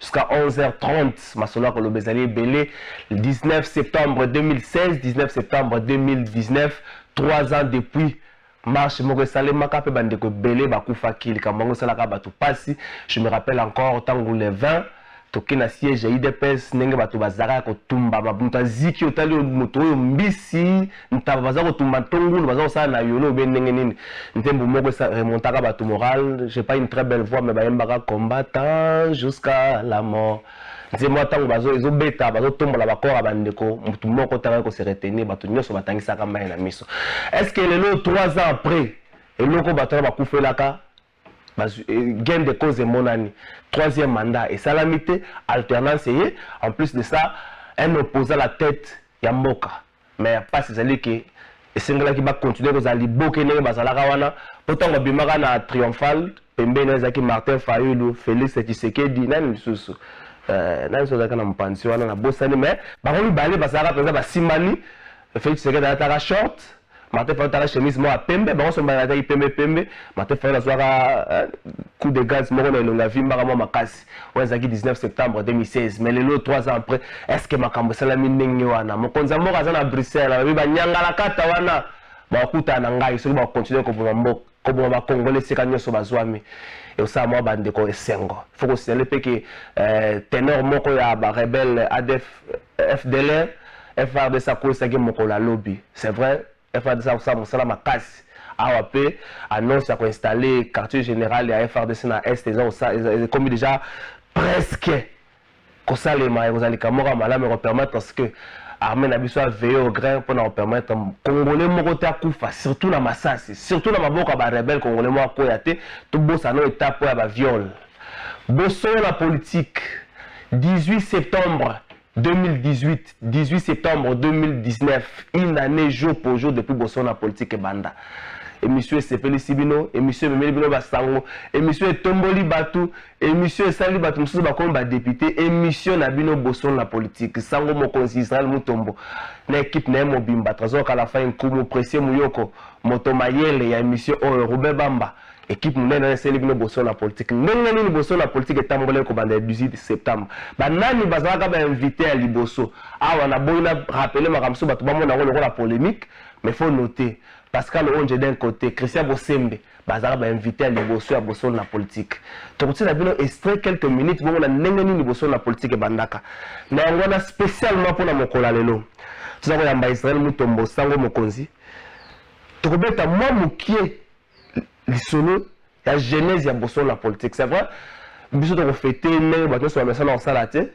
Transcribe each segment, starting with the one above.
jusqu'à 11h30 masolo ya koloba ezali ebele 19 septembre 2016 19 septembre 2019 3 ans depuis marche moko esalemaka mpe bandeko ebele bakufaki likambo yango esalaka bato mpasi je me rappelle encore ntango le 20 toke na siège ya idps ndenge bato bazalaka ya kotumbama moto aziki otali moto oyo mbisi ntaba baza kotumba to ngulu baza kosala na yolo obe ndenge nini nzembo moko esa remontaka bato morale j'ai pas une très belle voix mais bayembaka combattant jusqu'à la mort nzembo ya ntango bazo ezobeta bazotombola bakor ya bandeko motu moko te akoki kose retenir bato nyonso batangisaka mai na miso est ce que lelo 3 ans après eloko bato wana bakufelaka Bazwi, eh, gain de cause emonani. Troisième mandat esalami te, alternance eye. En plus de ça, un opposant la tête ya mboka. Mais ya pasi ezali ke esengelaki ba continuer kozala liboke ndenge bazalaka wana mpo ntango abimaka na triomphal pembeni ezalaki martin fayulu félix tshisekedi nani lisusu euh, nani so azalaki na mopanzi wana nabosani mais bango mibale bazalaka mpenza basimbani félix tshisekedi alataka short Martin Fayulu tala chemise moko ya pembe bango so mibale balataki pembe pembe Martin Fayulu azwaka eh, coup de gaz moko na elonga avimbaka mwa makasi oyo ezalaki 19 septembre 2016 mais lelo 3 ans après est ce que makambo esalami ndenge wana mokonzi ya mboka aza na bruxelles alobi banyangalakata wana bakokutana na ngai soki bakokontinue koboma mboka koboma ba congolais esika nyonso bazwami ekosala mwa bandeko esengo faut kosignale mpe ke eh, tenor moko ya barebele adf fdlr frdc akweisaki mokolo ya lobi c'est vrai frdc akosala mosala makasi awa mpe annonce ya koinstalle quartier général ya frdc na est eza ekomi déjà presque kosalema ekozala likambo moko ya malamu eko permettre à ce que armée na biso a veiller au grain mpo na ko permettre congolais moko te akufa surtout na masasi surtout na maboko ya ba rebelle congolais moko akoya te tobosana oyo etape oyo ya ba viole bosolo na politique 18 septembre 2018 18 septembre 2019 une année jour pour jour depuis bosolo na politique ebanda emission esepelisi bino emission ememeli bino basango emission etomboli bato Emission esali batu mosusu bakomi ba depute emission na bino bosolo na politique sango mokonzi Israel Mutombo na equipe na ye mobimba Trésor Kalafai Nkumu Precieux Muyoko moto mayele ya emission oyo Ruben Bamba equipe munene wana esali bino bosolo na politique ndenge nini bosolo na politique etambolaki kobanda le 18 septembre ba nani bazalaka ba invité ya liboso awa na boyi na rappeler makambo mosusu bato bamona yango lokola polemique mais faut noter Pascal Onje d'un côté Christian Bosembe Bazalaka ba invite ya liboso ya bosolo na politique. Tokotiela bino extrait quelques minutes bomona ndenge nini bosolo na politique ebandaka. Na yango wana specialement mpo na mokolo ya lelo toza koyamba Israel Mutombo sango mokonzi. Tokobeta mwa mokie lisolo ya genèse ya bosolo na politique. C'est vrai biso tokofete ndenge bato nyonso bamesana kosala te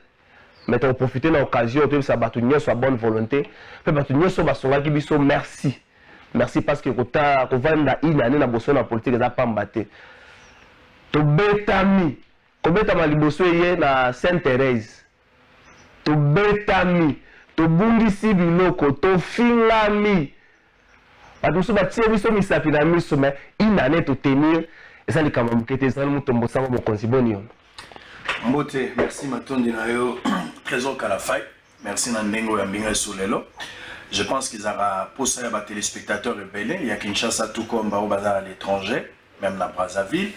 Mais toko profiter na occasion oyo toyebisa bato nyonso ya bonne volonte mpe bato nyonso oyo basungaki biso merci merci parce que kota kovanda une année na boso na politique eza pamba te tobetami kobetama liboso eye na sainte therese tobetami tobungisi biloko tofingami bato mosusu batie biso misapi na miso mais une année totenir eza likambo ya moke te ezali moto mbosango mokonzi boni yono mbote merci matondi na yo trésor kalafai merci na ndenge oyo ambinga esu lelo je pense qu'ezalaka mposa ya batelespectateur ebele ya kinshasa tout comme baoyo baza na l'étranger Meme na Brazzaville,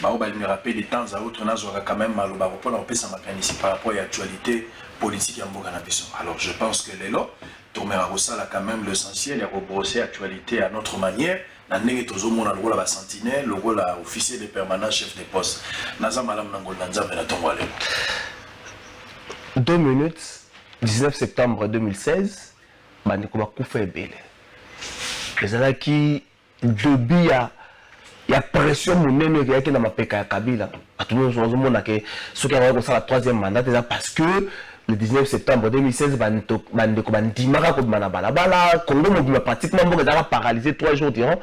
ba oyo balingaka pe de temps à autre nazuaka quand meme maloba po na kopesa makanisi par rapport ya actualite politique ya mboka na biso. Alors je pense que lelo tomeka kosala quand meme l'essentiel ya ko brosser actualite à notre manière na ndenge tozomona lokola ba sentinelle lokola officier de permanence chef de poste naza malamu na ngolu na nzambe na ntongo ya lelo 2 minutes 19 septembre 2016 bandeko bakufa ebele ezalaki Dobi ya ya pression munene oyo eyaki na mapeka ya Kabila bato nyonso bazomona ke soki akoki kosala troisième mandat eza parce que le 19 septembre 2016 bandeko bandimaka kobima na balabala congo mobima pratiquement mboka ezalaka paralyse 3 jours durant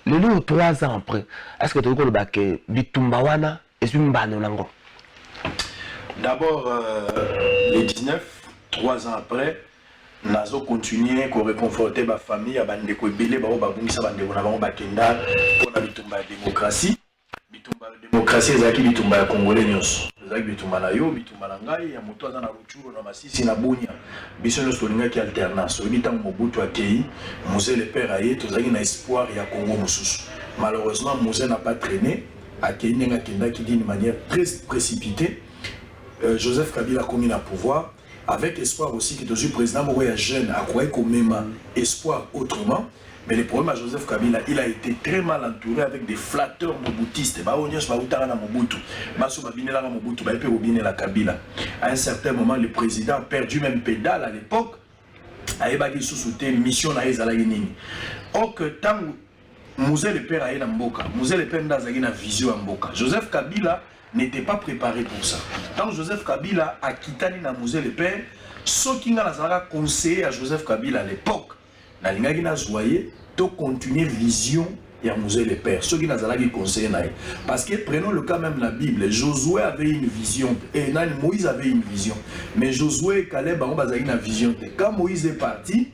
lelo oyo 3 ans après est ce que tokoki koloba ke bitumba wana ezwi mbano na yango. D'abord, euh, les 19, trois ans après, nazo continuer ko réconforter ba famille ya bandeko ebele bao babungisa bandeko na bango bakenda mpo na bitumba ya démocratie bitumba ya démocratie ezalaki bitumba ya congolais nyonso ezalaki bitumba na yo bitumba na ngai ya moto aza na rucuro na masisi na bunia biso nyonso tolingaki alternance oyebi ntango mobutu akei muse le père aye tozalaki na espoir ya congo mosusu malheureusement muse na pas traîne Akeyi ndenge akendaki d'une manière tres precipitee, Joseph Kabila akomi na pouvoir avec espoir aussi que tozui president moko ya jeune akokaki komema espoir autrement mais le problème ya Joseph Kabila il a ete tres mal entoure avec des flatteurs mobutistes ba oyo nionso bawutaka na Mobutu basi oyo babinelaka Mobutu baye pe kobinela Kabila à un certain moment le president a perdu meme pedale à l'epoque ayebaki lisusu te mission na ye ezalaki nini or que tango Mzee le père aye na mboka. Mzee le père nde azalaki na vision ya mboka. Joseph Kabila n'était pas prepare pour ça. Ntango Joseph Kabila akitani na Mzee le père, soki ngai nazalaka conseiller ya Joseph Kabila à l'époque, nalingaki nazwa ye to continuer vision ya Mzee le père soki nazalaki conseiller na ye. Parce que prenons le cas même la Bible, Josué avait une vision et eh, nani Moïse avait une vision. Mais Josué et Caleb bango bazalaki na vision te. Quand Moïse est parti,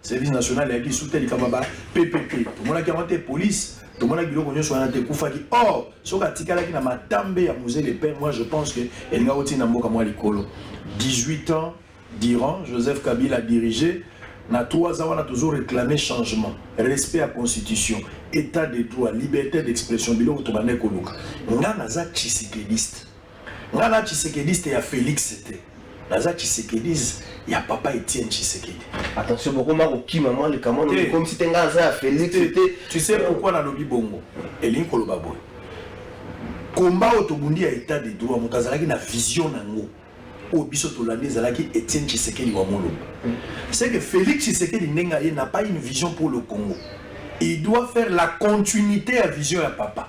Service national ya kisu te likambo ba PPP tomonaki yango te police tomonaki biloko nyonso wana te ekufaki or soki atikalaki na matambe ya musée de paix moi je pense que elinga kotina mboka mwa likolo 18 ans durant joseph kabila dirige na 3 ans wana tozo réclamer changement respect ya constitution état de droit liberté d'expression biloko tobandaki koluka nga naza tshisekediste Nga n'a tshisekediste ya Felix te naza tshisekedise ya papa Etienne Tshisekedi. Attention bokoma kokima mwa likambo na likomisi te nga aza ya Felix te. Tu sais pourquoi nalobi bongo? Elingi koloba boye. Komba oyo tobundi ya etat de droit moto azalaki na vision nango oyo biso tolandi ezalaki Etienne Tshisekedi wa Mulumba. Mm. C'est que Felix Tshisekedi ndenge aye n'a pas une vision pour le Congo. Il doit faire la continuité ya vision ya papa.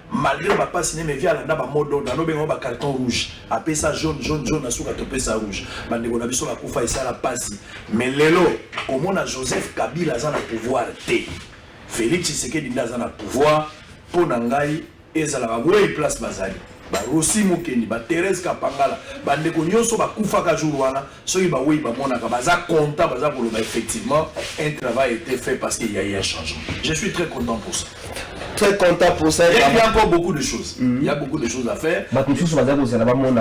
Malgre ba pasi ne mais via landa ba mot d'ordre alobe ngo ba carton rouge apesa jaune jaune jaune asuka topesa rouge bandeko na biso bakufa esala pasi mais lelo komona Joseph Kabila aza na pouvoir te Felix Tshisekedi nde aza na pouvoir mpo na ngai ezalaka wei place bazali barosi mokendi baterese kapangala bandeko nyonso bakufaka jour wana soki baweyi bamonaka baza content baza koloba effectivement un travail était fait parce qu'il y a eu un changement je suis très content pour ça très content pour ça. Il y a encore beaucoup de choses. Mm -hmm. Il y a beaucoup de choses à faire. Bah, tout ça, ça, ça, là-bas, mon,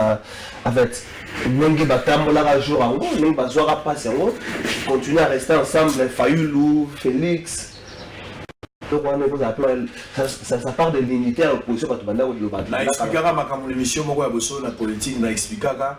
en fait, ndenge batambolaka jour yango ndenge bazwaka mpasi yango continue à rester ensemble fayulu félix donc wana ekozala mpe ça part de l'unité ya opposition bato banda koloba na explikaka makambo na émission moko ya bosolo na politique na explikaka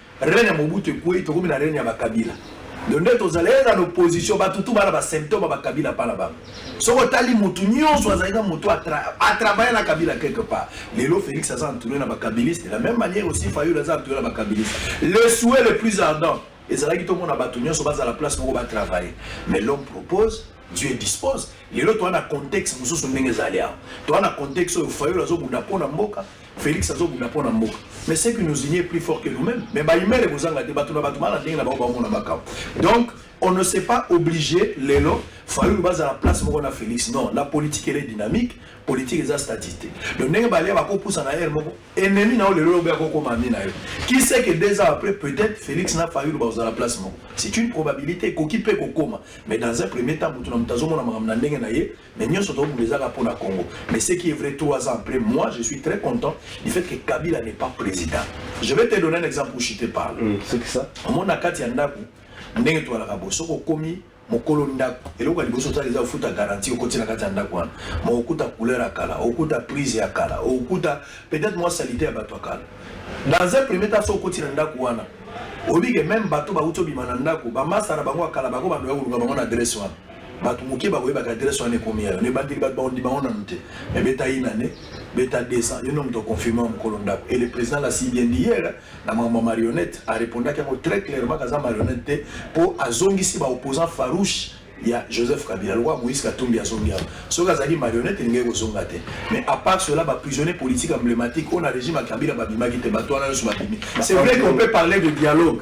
Règne ya Mobutu ekweyi tokomi na règne ya ba Kabila. Donc nde tozala ye na opposition batu tu bana ba symptôme ba Kabila pala bango. Soki otali mutu nyonso azali na mutu a travailler na Kabila quelque part. Lelo Felix aza entouré na ba Kabiliste de la même manière aussi Fayulu aza entouré na ba Kabiliste. Le souhait le plus ardent ezalaki tomona batu nyonso bazala place moko ba travailler. Mais l'homme propose Dieu dispose. Lelo toa na contexte mosusu ndenge ezali awa. Toa na contexte oyo Fayulu azobunda mpo na mboka, Felix azo bunda pona mboka mais ce qui nous unie est plus fort que nous-mêmes mais ba email ekozanga te bato na bato bana ndenge na bango baomona makambo donc on ne s'est pas obligé lelo fayulu bazala place moko na félix non la politique ele dynamique politique eza statique te donc ndenge balia bakopusa na ere moko ennemi na yo lelo lobi akokoma ami na yo qui sait que deux ans après peut-être félix na fayulu bakozala place moko c'est une probabilité ekoki mpe kokoma mais dans un premier temps moto na moto azomona makambo na ndenge na ye Mais nionso to bula eza kaka mpo na Congo. Mais ce qui est vrai, trois ans après, moi je suis très content du fait que Kabila n'est pas président. Je vais te donner un exemple où je te parle. Mm, c'est que ça. Moi na kati ya ndako ndenge toalaka bo soki okomi mokolo ndako eloko ya liboso osala eza ofuta garantie okoti na kati ya ndako wana ma okuta couleur ya kala okuta prise ya kala okuta peut-être mwa salite ya bato ya kala dans un premier temps so okoti na ndako wana oyebi ke meme bato bauti obima na ndako bamasta na bango ya kala bango bando ya koluka bango na adresse wana Bato moke bakoyebaka adresse wana ekomi yayo na ebandeli bato bakondima ngo nanu te mais beta une année beta 200 yo nde moto oconfirme wa mokolo ndako et le président l'a si bien dit hier na makambo ya marionnette arepondaki yango très clairement kaza marionnette te mpo azongisi ba opposant farouche ya joseph kabila lokola moïse katumbi azongi awa soki azalaki marionnette elingaki kozonga te mais à part cela baprisonnier politique emblématique oyo na régime ya kabila babimaki te bato wana nyonso babimi c'est vrai qu'on peut parler de dialogue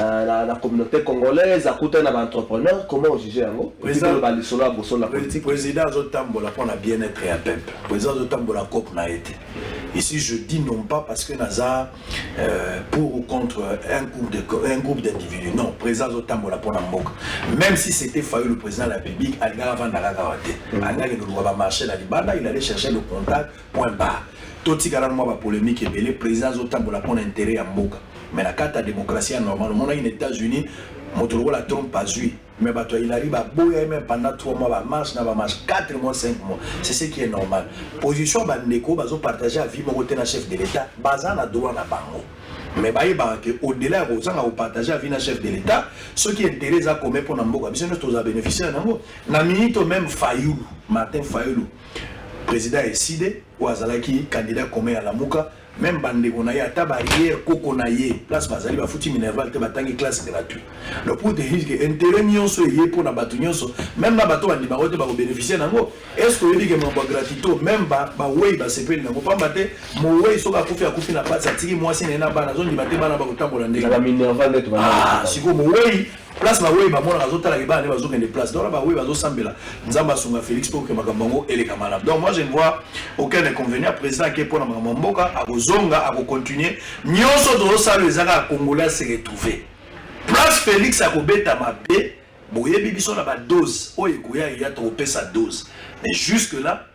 Euh, la, la communauté congolaise akutani na baentrepreneur comment ojuge yango oloba lisolo ya boso na politique président azotambola mpo na bien-être ya peuple président azotambola cope na ye te ici je dis non pas parce que naza euh, pour ou contre un groupe de un groupe d'individus non président azotambola mpo na mboka même si c'était failli le président de la république alingaka avandaka kaka te alingaki loluka bamarché na libanda il allait chercher le contact Point barre. To tika nanu mwa ba polemique ebele, president azo tambola pona interet ya mboka mais na kati ya democratie ya normal. Omonaki na Etats Unis moto lokola Trump azui mais bato ya Hillary ba boya ye meme pendant 3 mois ba marche na ba marche 4 mois 5 mois. C'est ce qui est normal. Position ya ba ndeko bazo partager avis moko te na chef de l'etat baza na droit na bango. Mais bayebaka ke au delà ya kozanga ko partager avis na chef de l'etat soki interet eza commun pona mboka biso nionso toza beneficiaire na yango. Na minute oyo meme Fayulu, Martin Fayulu, President Ecide oyo azalaki candidat commun ya Lamuka, meme bandeko na ye ata barrière koko na ye place bazali bafuti minerval te batangi classe gratuit. Donc pour te dire que intérêt nyonso eye mpo na bato nyonso meme na bato bandima yango te bako beneficier na yango. Est ce que oyebi que mambo ya gratito meme ba baweyi basepeli na yango pamba te moweyi soki akufi akufi na pasi atiki mwasi na ye na bana azondima te bana bakotambola ndenge na ba minerval nde tobanda ah sikoyo moweyi Place ba weyi ba mona azo tala ke bana ne bazo kende place donc ba weyi bazo sambela nzambe asunga Felix pour que makambo yango eleka malamu donc moi je ne vois aucun inconvénient président ake pona makambo mboka akozonga ako continuer nyonso tozo sala ezaka ya congolais se retrouver place Felix akobeta mabe boyebi biso na ba dose oyo ekoya eya tokopesa dose mais jusque là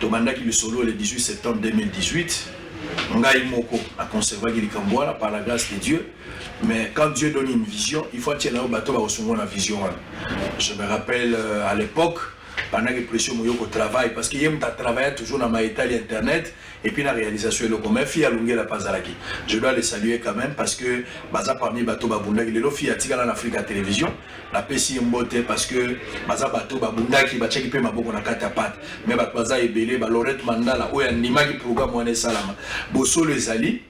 Tobandaki lisolo le 18 septembre 2018. Ngai moko a conservaki likambo wana par la grâce de Dieu. Mais quand Dieu donne une vision, il faut atiela yo bato bakosungwa na vision wana. Je me rappelle euh, à l'époque pendant que pression moyoko travail parce que ye muta travailla toujours na maetali internet et puis la réalisation eloko mais fille alungela pas alaki je dois les saluer quand même parce que baza parmi bato babundaki lelo fille atikala na Africa Télévision napesi ye mbote parce que baza bato babundaki batiaki mpe maboko na kati ya pate me bato baza ebele ba lorette mandala oyo andimaki programme wana esalama bosolo ezali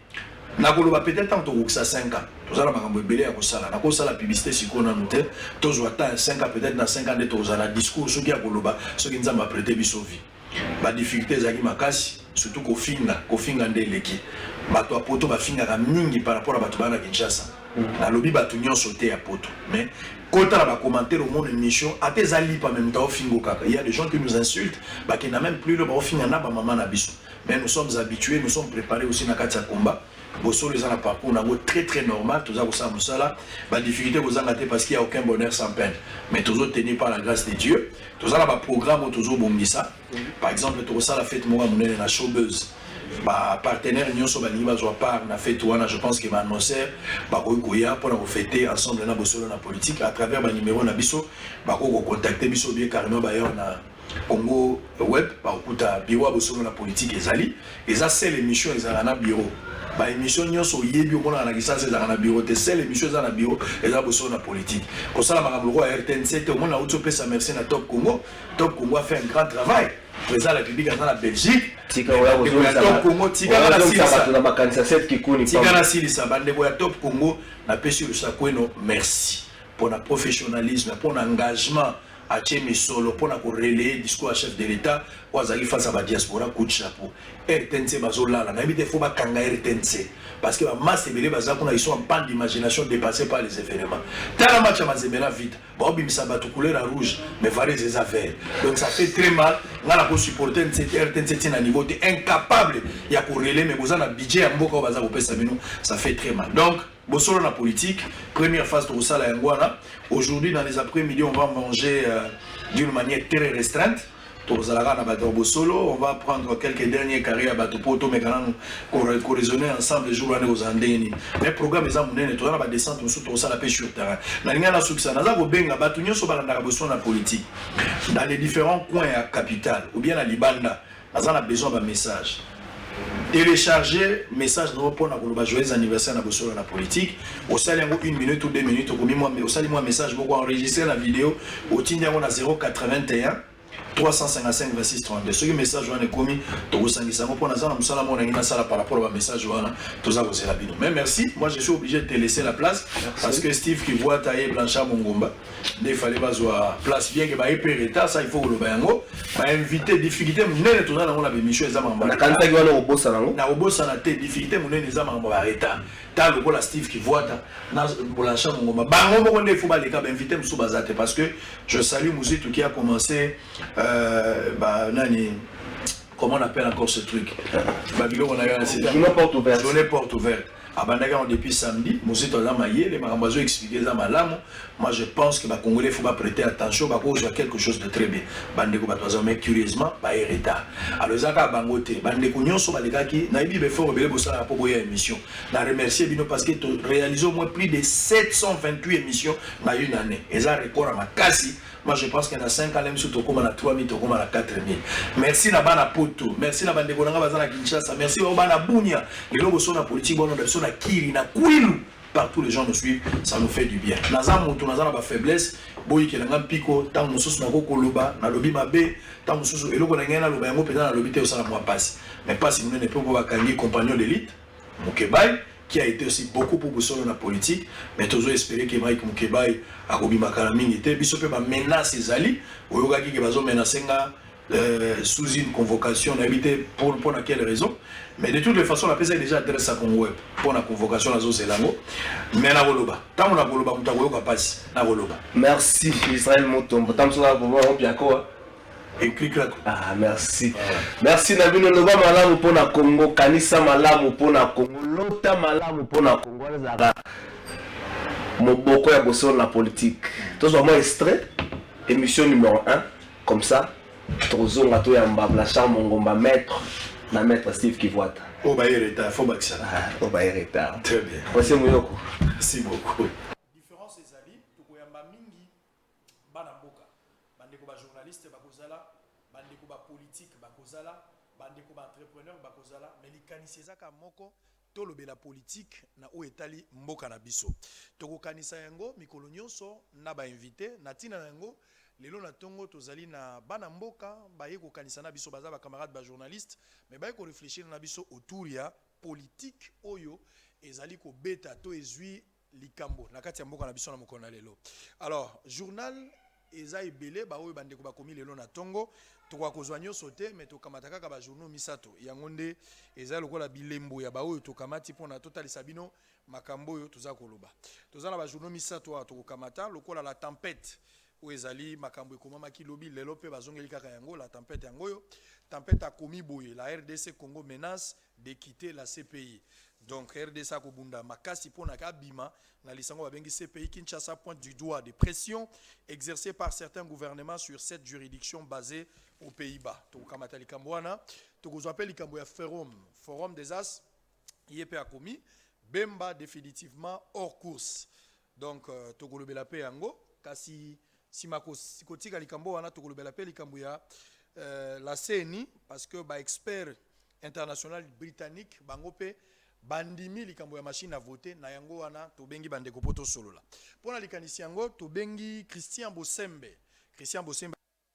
nakoloba peut-être ntango tokokisa 5 ans toza na makambo ebele ya kosala nakosala publicité sikoyo nanu te tozwa temps ya 5 ans peut-être na 5 ans nde tokozala discours soki ya koloba soki nzambe aprete biso vie Ba difficultes ezalaki makasi surtout kofinga, kofinga nde eleki. Batu ya poto bafingaka mingi par rapport ya batu baya na Kinshasa. Nalobi batu nionso te ya poto mais kotala ba commentaires omona emission ata eza lipa mais mutu aofinga yo kaka. Il ya des gens qui nous insultent bakenda meme plus loin baofinga naba mama na biso mais nous sommes habitues, nous sommes prepares aussi na kati ya combat. Bosolo eza na parcours na yango très très normal, toza kosala mosala, ba difficultés kozanga te parce qu'il y a aucun bonheur sans peine. Mais tozo tenir par la grâce de Dieu, toza na ba programmes oyo tozo bongisa. Par exemple, tokosala fête moko ya monene na showbuzz. Ba partenaires nyonso balingi bazwa part na fête wana, je pense que ba annonceurs bakoki koya mpo na kofete ensemble na bosolo na politique à travers ba numéros na biso, bakoki kocontacter biso ou bien carrément baye wana Congo web bakokuta bureau ya bosolo na politique ezali eza seule emission ezalaka na bureau ba emission nyonso oyebi omonaka na kisasa ezalaka na bureau te seule emission eza na bureau eza bosolo na politique kosala makambo lokola ya rtnc te omona auti opesa merci na top congo top congo a fait un grand travail président ya république aza na belgique tika oya Bandeko ya Top Congo, tika na kozongisa silisa. bato na makanisa sete kikuni tika pamba. nasilisa bandeko ya top congo napesi lusakweno merci mpona professionnalisme mpona engagement atie misolo mpo na ko relayer discours ya chef de l'etat oyo azalaki face ya ba diaspora coup de chapeau rtnc bazolala nayebi te fo bakanga rtnc parce que bamasse ebele baza kuna ils sont en panne d'imagination dépassé par les événements tala match ya mazembe na vita baobimisa bato couleur ya rouge mais varese eza vert donc ça fait très mal ngai na kosupporte rtnc ti na niveau te incapable ya korele mais boza na budget ya mboka oyo baza kopesa bino ça fait très mal donc Bosolo na politique, première phase tokosala yango wana. Aujourd'hui dans les après-midi, on va manger euh, d'une manière très restreinte. tozalaka na bato ya bosolo on va prendre quelques derniers carré ya bato mpo tomeka nanu koraisonner ensemble jour wana ekozala ndenge nini mais programme eza monene toza na badescente mosusu tokosala mpe sur terrain nalingai nasukisa naza kobenga bato nyonso balandaka bosolo na politique dans les différents coins ya capitale ou bien na libanda Naza na besoin ba message. Telecharge message na yo pona koloba joyeux anniversaire na bosolo na politique. Osali yango une minute ou deux minutes okomi mwa osali mwa message moko enregistrer na video otindi yango na 081 355 26 32 soki message wana ekomi tokosangisa yango mpo naza na mosala moko nangi nasala par rapport ba message wana toza kozela bino mais merci moi je suis obligé de te laisser la place parce que steve kivuata ye blanchard mongomba nde fale bazwa place bien que baye mpe retard ça il faut koloba yango bainvité difficulté monene toza nango na bémission eza makambo nakanisaki wana okobosana yango nakobosana te difficulté monene eza makambo ya retard ta lokola steve kivuata na bolansha mongoma bango moko nde ifo baleka bainvité mosusu baza te parce que je salue muzitu qui a commencé euh, ba, nani comment on appelle encore ce truc babiloko na yo na sida journée porte ouverte abandaki yango depuis samedi mozito aza mayele makambo azo expliquer eza malamu moi je pense que ba congolais faut ba prêter attention ba kozwa quelque chose de très bien bandeko bato baza mais curieusement ba ye retard alors eza kaka bango te bandeko nyonso balekaki nayebi befort ebele bosalaka mpo boya émission na remercier bino parce que to réalise au moins plus de 728 émissions na une année eza record ya makasi Moi je pense que na 5 ans biso tokoma na 3000 tokoma na 4000. Merci na bana poto, merci na bandeko na nga baza na Kinshasa, merci ba bana Bunia. Lelo boso na politique bono biso na Kiri na Kwilu. Partout les gens nous suivent, ça nous fait du bien. Naza mutu naza na ba faiblesse, boyikela nga mpiko, tango mosusu nako koloba, nalobi mabe, tango mosusu eloko na ngai naloba yango mpenza nalobi te osala mwa pasi. Mais pasi munene mpe mpo bakangi compagnon d'élite Mukebayi qui a ete aussi beaucoup pour bosolo na politique mais tozo espere que Mike Mukebayi akobima kala mingi te biso pe ba menace ezali oyokaki ke bazo menace nga Euh, sous une convocation nayebi te pour mpo na quelle raison mais de toutes les façons napesaki déjà adresse ya congo web mpo na convocation nazozela yango mais nakoloba ntango nakoloba moto akoyoka mpasi nakoloba merci israel motombo ntango mosusu nakoloba yango biakoa Ah, merci merci na bino loba malamu mpo na congo kanisa malamu mpo na congo lota malamu mpo na congo wana ezalaka moboko ya bosolo na politike tozwa mwa extrait émission numéro 1 comme ça tozonga toyamba blachar mongomba maître na maître steve kivwata oyo baye retard fo bakisa oyo ah, baye retard très bien mwasi moyoko merci beaucoup Bana mboka, ba ndeko ba journalistes bako zala, ba ndeko ba politiques bako zala, ba ndeko ba entrepreneurs bako zala, mais likanisi eza kaka moko, to lobela politique na oyo etali mboka na biso. Toko kanisa yango mikolo nionso na ba invites. Na tina na yango, lelo na tongo tozali na bana mboka baye ko kanisa na biso, baza ba camarades ba journalistes, mais baye ko reflechir na biso autour ya politique oyo ezali ko beta to ezui likambo na kati ya mboka na biso na mokolo na lelo alors journal eza ebele ba oyo bandeko bakomi lelo na tongo tokoka kozwa nyonso te me tokamata kaka ba journaux misato yango nde eza lokola bilembo ya ba oyo tokamati mpona totalisa bino makambo oyo toza koloba toza na ba journaux misato awa tokokamata lokola la tempete oyo ezali makambo ekomamaki lobi lelo mpe bazongeli kaka yango la tempete yango oyo tempete akomi boye la rdc congo menace de quitter la CPI donc rdc akobunda makasi mpo na abima na lisango babengi CPI. Kinshasa pointe du doigt des pressions exercees par certains gouvernements sur cette juridiction basee aux Pays-Bas. Tokokamata likambo wana, tokozwa mpe likambo ya forum forum des as ye mpe akomi Bemba definitivement hors course donc euh, tokolobela mpe yango kasi nsima kotika likambo wana tokolobela mpe likambo ya euh, la CENI parce que ba experts International Britannique bango mpe bandimi likambo ya machine à voter, na yango wana tobengi bandeko mpo tosolola mpo na likanisi yango. Tobengi Christian Bosembe. Christian Bosembe azali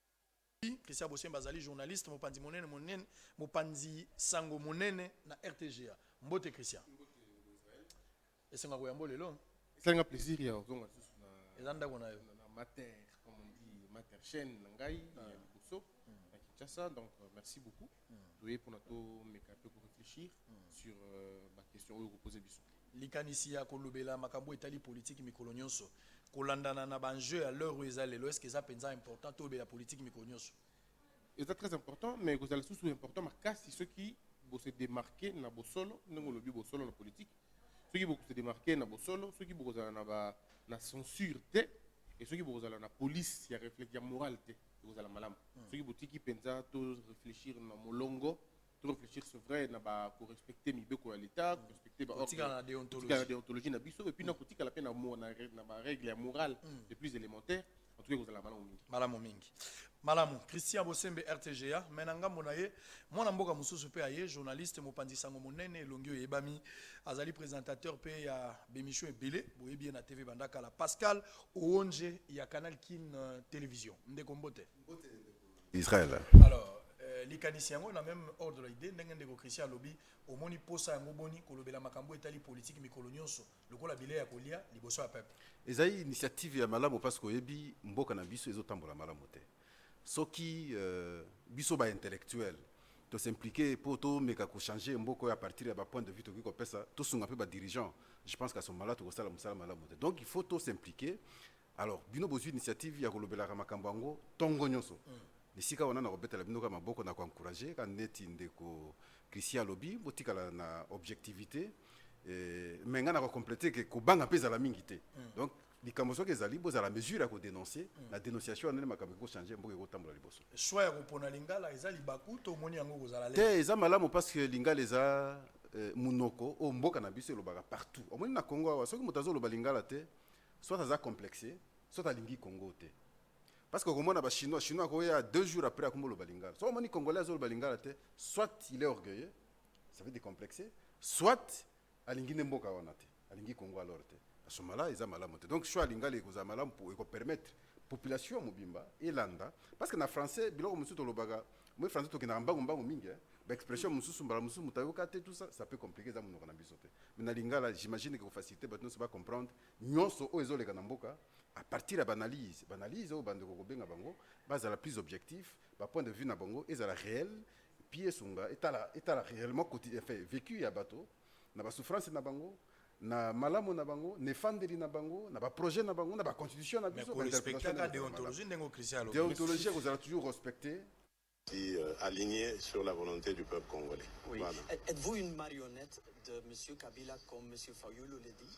mopanzi, Christian Bosembe azali journaliste, mopanzi monene, monene, mopanzi sango monene na RTGA. Mbote Christian. Mbote ndeko Israël. Esenga ko yambo lelo. Esali nga plaisir ya ozonga lisusu na. Eza ndako na yo. Na mater comme on dit mater chaîne na ngai ya liboso na Kinshasa donc merci beaucoup. Toye pona to meka pe ko reflechir sur ba questions oyo ko poser biso. Likanisi ya kolobela makambo oyo etali politique mikolo nionso kolandana na ba enjeux ya l'heure oyo eza lelo est ce que eza penza important tolobela politique mikolo nionso? Eza très important mais ekozala lisusu important makasi soki bo se demarquer na bosolo ndenge olobi bosolo na politique soki boko se demarquer na bosolo, soki boko zala na ba na censure te et soki boko zala na police ya reflect ya morale te eko zala malamu. Soki botiki penza to reflechir na molongo, to reflechir c'est vrai na ba ko respecter mibeko ya l'etat, ko respecter ba ordres, kotikala na deontologie na biso et puis na kotikala pe na ba règles ya morale les plus elementaires. en tout cas ekozala malamu mingi malamu mingi malamu christian bosembe rtga me na ngambo na ye mwana mboka mosusu mpe aye journaliste mopanzi sango monene elongi oyo eyebami azali présentateur mpe ya bemission ebele boyebi ye na tv bandakala pascal oonje ya canal kin euh, television ndeko mbote israel alors euh, likanisi yango na même ordre la idée ndenge ndeko christian alobi omoni mposa yango boni kolobela makambo etali politiki mikolo nyonso lokola bilei ya kolia liboso ya peuple. Ezali initiative ya malamu parce que oyebi mboka na biso ezotambola malamu te. Soki euh, biso ba intellectuel to s'impliquer mpo tomeka ko changer mboka oyo à partir ya ba point de vue tokoki kopesa, tosunga mpe ba dirigeants. Je pense qu'à ce moment-là tokosala mosala malamu te. Donc il faut to s'impliquer. Alors bino bozwi initiative ya kolobelaka makambo yango tongo nyonso. Mm. Esika wana nakobetela bino ka maboko na ko encourager ka neti ndeko Christian alobi botikala na objectivité. mais ngai nako complete ke kobanga mpe ezala mingi te mm. donc likambo soki ezali bozala mesure ya kodenonce mm. na dénonciation wana nde makambo ekochange mboka ekotambola liboso swa ya kopona lingala eza libaku to omoni yango kozala te eza malamu parce que lingala eza eh, monoko oyo mboka na biso elobaka partout omoni na congo awa soki moto azoloba lingala te soit aza complexe soit alingi congo te parce que okomona bachinois chinois akoya deux jours après akomoloba lingala soki omoni congolais azoloba lingala te soit il est orgueilleux ça veut dire complexe soit alingi nde mboka wana te alingi congo alors te asomala eza malamu te donc choix alingala ekozala malamu mpo ekopermettre population mobimba elanda parce que na français biloko mosusu tolobaka moi français tokendaka mbangu mbangu mingi eh. baexpression mosusu mbala mosusu moto ayoka te tout ça ça peut compliquer eza monoko na biso te mais na lingala j'imagine ekofacilité bato nyonso bacomprendre nyonso oyo ezoleka na mboka à partir ya baanalyse baanalyse oyo bandeko kobenga bango bazala plus objectif bapoint de vue na bango ezala réel Puis esunga etala etala reellement quotidien enfin vecu ya bato na ba souffrances na bango, na malamu na bango, na efandeli na bango, na ba projets na bango, na ba constitutions na Mais biso, ko ba respecter interpretations aka ndenge ezalaka deontologie malamu. ndenge oyo Christian alobi. Deontologie ekozala toujours respectee. si aligne sur la volonte du peuple congolais Oui. Voilà. Etes-vous une marionnette de monsieur Kabila comme monsieur Fayulu le dit?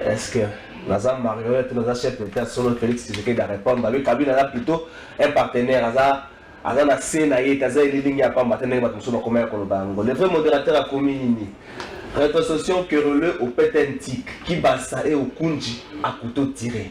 Est ce que naza marionnette ou naza chef d'etat solo Felix Tshisekedi a répondre ba lui Kabila aza plutôt un partenaire aza aza na se na ye te aza elilingi ya pamba te ndenge bato mosusu bakomaki koloba yango le vrai modérateur akomi nini retrocession querelleux au pete un tic kibasa et okunji akuto tire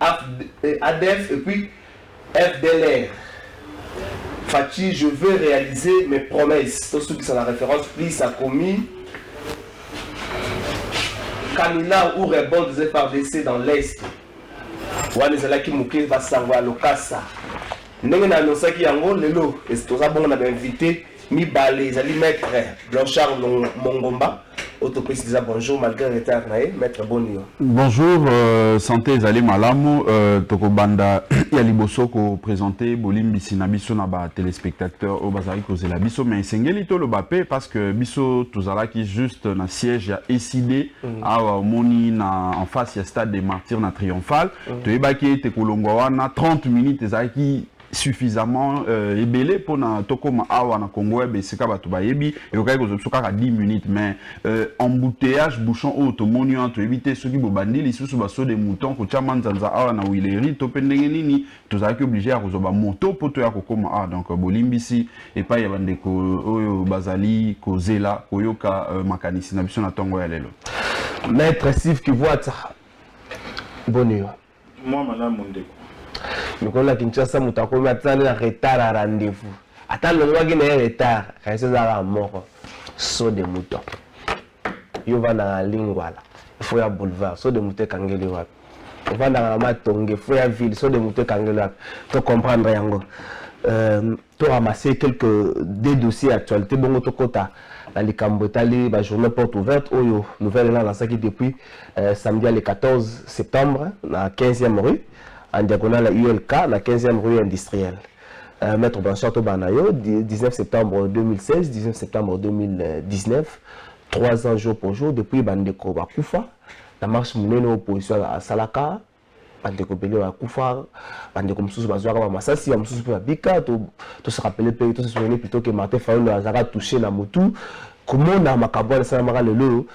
Adf et puis FDLR Fatshi je veux realiser mes promesses tosukisa na reference please akomi Kamina ou rebond des FARDC dans l'est wana ezalaki moke basango ya lokasa ndenge na anonsaki yango lelo toza bongo na bainvite mibale ezali maître Blanchard Mongomba oyo topesi deja bonjour malgré retard na ye maître boni yo bonjour euh, santé ezali malamu euh, tokobanda ya liboso kopresente bolimbisi na biso na batelespectateur oyo bazalaki kozela biso mais esengeli toloba mpe parce que biso tozalaki juste na siège ya ecd mm. awa omoni na en face ya stade des martyrs na triomphal mm. toyebaki ete kolongwa wana 30 minutes ezalaki suffisamment euh, ebele pona tokoma awa na Congo ya besika bato bayebi ekokaki kozwa biso kaka 10 minutes mais euh, embouteillage bouchon oyo tomoni wana toyebi te soki bobandi lisusu baso de mouton kotya manzanza awa na wileri to mpe ndenge nini tozalaki oblige ya kozwa bamoto mpo toya kokoma awa donc euh, bolimbisi epai ya bandeko oyo bazali kozela koyoka euh, makanisi na biso na ntongo ya lelo maître steve kivuata boni yo Mua malamu ndeko. Mikolo na Kinshasa moto akomi ata na retard ya rendez-vous. Ata alongwaki na ye retard, kasi eza kaka moko. Saut de mouton. Yo vandaka na Lingwala, il faut ya boulevard. Saut de mouton ekangeli wapi? Ovandaka na Matonge, il faut ya ville. Saut de mouton ekangeli wapi? To comprendre yango. Euh, To ramasser quelques deux dossiers actualites bongo to kota na likambo etali ba journaux porte ouverte oyo nouvelle na lancaki depuis euh, samedi le 14 septembre na 15e rue en diagonale à ULK na 15e rue industrielle. Euh, Maître Blanchard Tobanayo, 19 septembre 2016, 19 septembre 2019, trois ans jour pour jour, depuis Bandeko Bakufa, la marche monene opposition à Salaka, bandeko ebele bakufa bandeko mosusu bazwaka bamasasi bamosusu mpe babika tosakapele mpe tosesonene plutôt ke martin fayolo azalaka touche na motu komona makambo wana esalamaka lelo oyo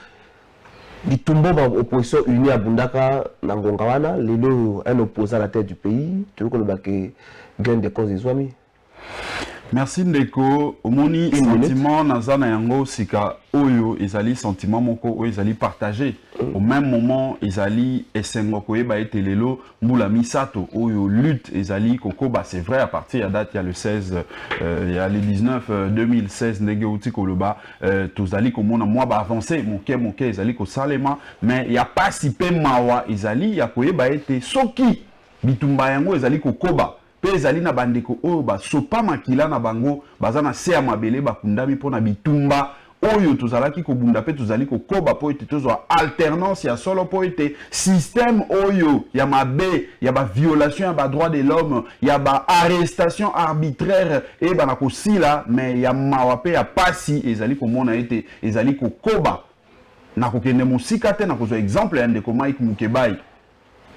bitumbo ba opposition unie abundaka na ngonga wana lelo oyo un opposant na tête du pays toyokoloba ke gain de cause ezwami merci ndeko omoni sentiment naza na yango sika oyo ezali sentiment moko oyo ezali partage au même moment ezali esengo koyeba ete lelo mbula misato oyo lutte ezali kokoba c'est vrai à partir ya date ya le 16 euh, ya le 19 euh, 2016 ndenge outi koloba euh, tozali komona mwa baavance moke moke ezali kosalema mais ya pasi mpe mawa ezali ya koyeba ete soki bitumba yango ezali kokoba mpe ezali na bandeko oyo basopa makila na bango baza na se ya mabele bakundami mpo na bitumba oyo tozalaki kobunda mpe tozali kokoba mpo ete tozwa alternance ya solo mpo ete système oyo ya mabe ya ba violation ya ba droit de l'homme ya ba arrestation arbitraire eyebana kosila me ya mawa mpe ya pasi ezali komona ete ezali kokoba na kokende mosika te na kozwa exemple ya ndeko Mike Mukebayi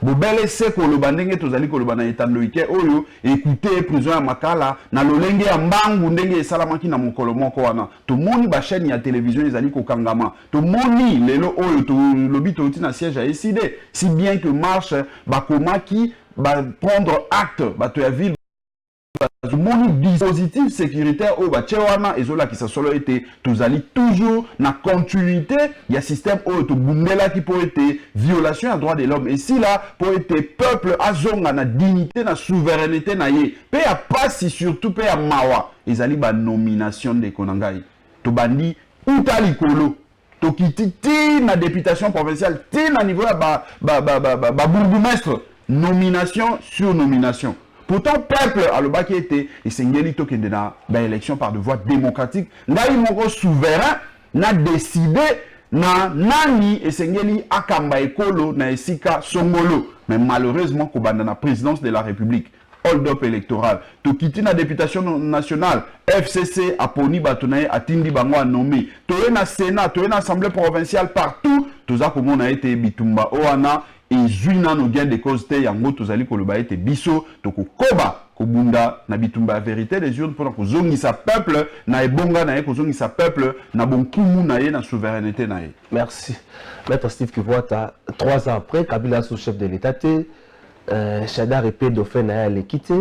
Bobele se koloba ndenge tozali koloba na etando ike oyo, Ecoutez, prison ya Makala, na lolenge ya mbangu ndenge esalamaki na mokolo moko wana. Tomoni ba chaines ya television ezali kokangama. Tomoni, lelo oyo, to, lobi touti na siège ya ECD, si bien que marche, bakomaki, ba prendre acte, bato ya ville, bazomoni dispositif securitaire oyo batye wana ezolakisa solo ete tozali toujours na continuité ya système oyo tobundelaki mpo ete violation ya droit de l'homme esila mpo ete peuple azonga na dignité na souveraineté na ye mpe ya pasi surtout mpe ya mawa ezali banomination ndeko na ngai tobandi uta likolo tokiti ti na deputation provinciale ti na niveau ya babourgoumestre ba, ba, ba, ba nomination sur nomination pourtant peuple alobaki ete esengeli tokende na baélection par de voie démocratique ngai moko souverain na décide na nani esengeli akamba ekolo na esika songolo mais malheureusement kobanda na présidence de la république Hold up electoral. Tokiti na deputation nationale. FCC aponi bato na ye, atindi bango a nomme. Toye na Senat, toye na Assemblée provinciale, partout toza komona ete bitumba oyo wana ezwi nano gain de cause te. Yango tozali koloba ete biso tokokoba kobunda na bitumba ya verite des urnes mpo na kozongisa peuple na ebonga na ye, kozongisa peuple na bonkumu na ye, na souverainete na ye. Merci. Maître Steve Kivuata, trois ans après, Kabila asu chef de l'Etat te, Eh, Shadari pe dauphin na ye aleki te.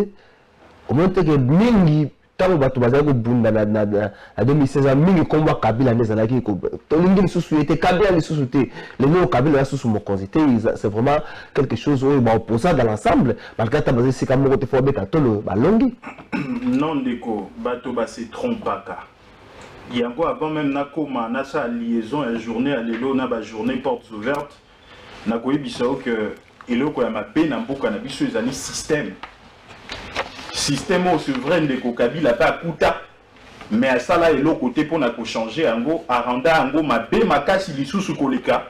Omoni te ke mingi ntango bato bazali kobunda na, na, na, na 2016 mingi nkombo ya Kabila nde ezalaki tolingi lisusu ye te, Kabila lisusu te. Lelo oyo Kabila aza susu mokonzi te, c'est vraiment quelque chose oyo ba opposants dans l'ensemble malgré ata baza esika moko te fo babeta tolo balongi. Non ndeko, bato ba se trompaka yango avant meme nakoma nasala liaison ya journée ya lelo na ba journée portes ouvertes Na koyebisa yo que eloko ya mabe na mboka na biso ezali système. Système oyo c'est vrai ndeko Kabila pe akuta mais asala eloko te pona ko changer yango, a renda yango mabe makasi lisusu koleka.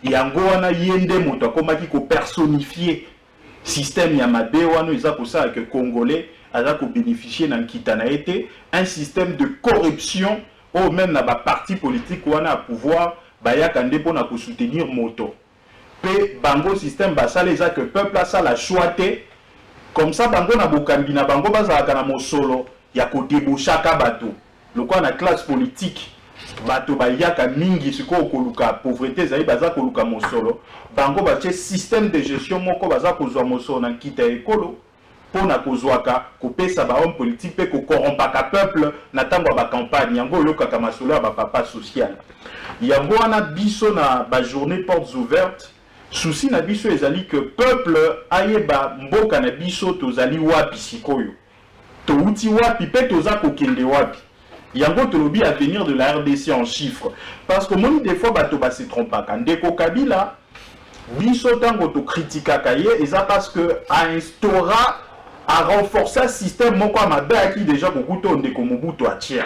Yango wana ye nde moto akomaki ko personifier Système ya mabe wana eza kosala que congolais aza ko beneficier na nkita na ye te, un système de corruption oyo meme na ba partis politiques wana ya pouvoir bayaka nde mpo na ko soutenir moto mpe bango système basala eza que peuple asala choix te comme ça bango na bokambi na bango bazalaka na mosolo ya ko debauchaka bato. Lokola na classe politique bato bayaka mingi sikoyo koluka pauvrete ezali baza koluka mosolo, bango batie système de gestion moko baza kozwa mosolo na nkita ya ekolo mpo na kozwaka, kopesa ba hommes politiques mpe ko corrompaka peuple na tango ya ba campagnes. Yango oyokaka masolo ya ba papa social. Yango wana biso na ba journees portes ouvertes, souci na biso ezali que peuple ayeba mboka na biso tozali wapi sikoyo. Towuti wapi pe toza kokende wapi? Yango tolobi avenir de la rdc en chiffres parce que omoni de fois bato ba se trompaka. Ndeko Kabila biso tango to critikaka ye eza parce que a instaura a renforca système moko ya mabe ayaki dejà kokuta oyo ndeko Mobutu atia.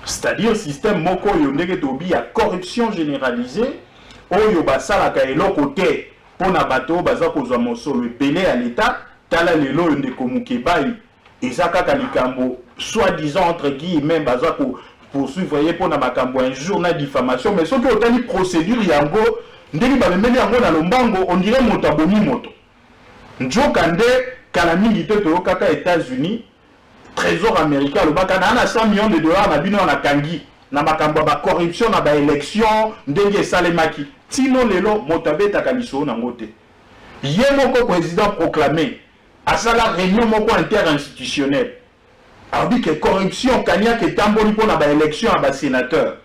C'est à dire système moko oyo ndenge tolobi ya corruption generalisee oyo basalaka eloko te. Mpo na bato oyo baza kozwa mosolo ebele ya leta, tala lelo oyo ndeko Mukebayi, eza kaka likambo soit disant entre guillemets baza ko poursuivre ye mpo na makambo ya injure na diffamation, mais soki otali procedure yango ndenge bamemeli yango na lombango on dirait moto abomi moto. Nzoka nde kala mingi te toyokaka Etats-Unis Tresor americain alobaka na na 100 millions de dollars na bino na kangi na makambo ya ba corruption na ba election ndenge esalemaki tino lelo moto abetaka lisolo na ngo te ye moko president proclame asala reunion moko inter institutionnel alobi ke corruption kaniaka etamboli mpo na ba election ya ba senateur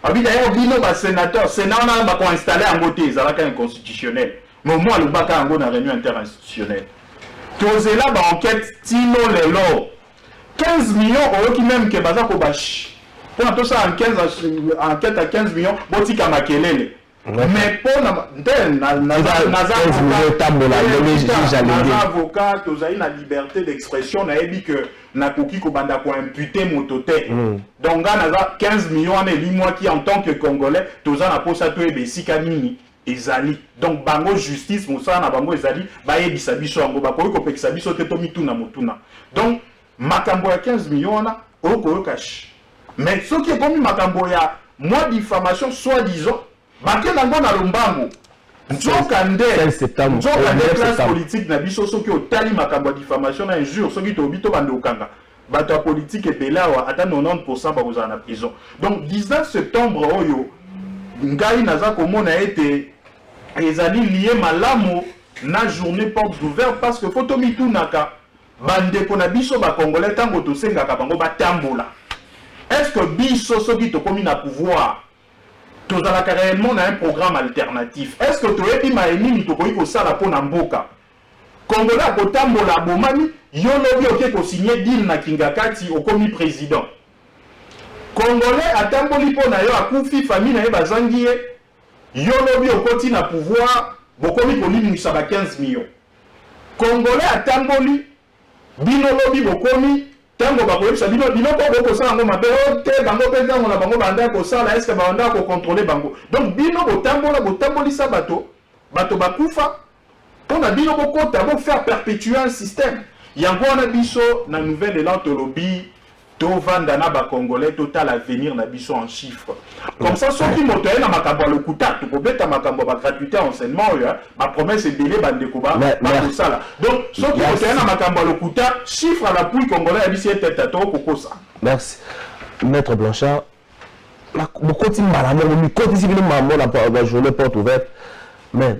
Abi d'ailleurs bino ba senateurs, senat wana ba ko installer yango te, ezalaka inconstitutionnel. Mais au moins alobaka yango na reunion interinstitutionnelle. Tozela ba enquête tino lelo. 15 millions oyoki meme que baza ko ba mpona tosala enquête ya 15 millions botika makelele. mais mpo na nte naza avocat tozali na liberté d'expression nayebi que nakoki kobanda koimpute moto te mm. donc ngai naza 15 million wana elimwaki en tant que congolais toza na mposa toyeba esika nini ezali donc bango justice mosala na bango ezali bayebisa biso yango bakoki kopekisa biso te tomituna motuna donc Makambo ya 15 millions wana oko yoka shi mais soki ekomi makambo ya mwa diffamation soit disant bake nango na lombango nzoka nde nzoka nde classe politique na biso soki otali makambo ya diffamation na injure soki tolobi to bande okanga bato ya politike ebele awa ata 90 bakozala na prison donc 19 septembre oyo ngai naza komona ete ezali lie malamu na journée porte ouverte parce que fo tomitunaka Ba ndeko na biso ba congolais tango tosengaka bango batambola est ce que biso soki tokomi na pouvoir tozalaka reellement na un programme alternatif est ce que toyebi maye nini tokoki kosala mpo na mboka congolais akotambola abomami yo lobi oke kosigne deal na kingakati okomi president congolais atamboli mpo na yo akufi famille na ye bazangi ye Yo lobi okoti na pouvoir bokomi kolimuisa ba 15 millions congolais atamboli bino lobi bokomi tango bakoyebisa bino biloko oyo bokosala yango mabe oh te bango pe tango na bango baandaka kosala eske baandaka ko controler bango donc bino botambola botambolisa bato bato bakufa Pona bino bo kota bo faire perpetuer un système yango wana biso na nouvel elan tolobi to vanda na ba congolais to tala avenir na biso en chiffre comme ça soki moto aye na makambo ya lokuta toko beta makambo ba gratuité ya enseignement oyo ba promesse ebele ba ndeko ba ba kosala donc soki moto aye na makambo ya lokuta chiffre à l'appui congolais ya bisi eteta to kokosa merci maître blanchard bokoti mbala moko mikotisi bino mambo na ba journée porte ouverte mais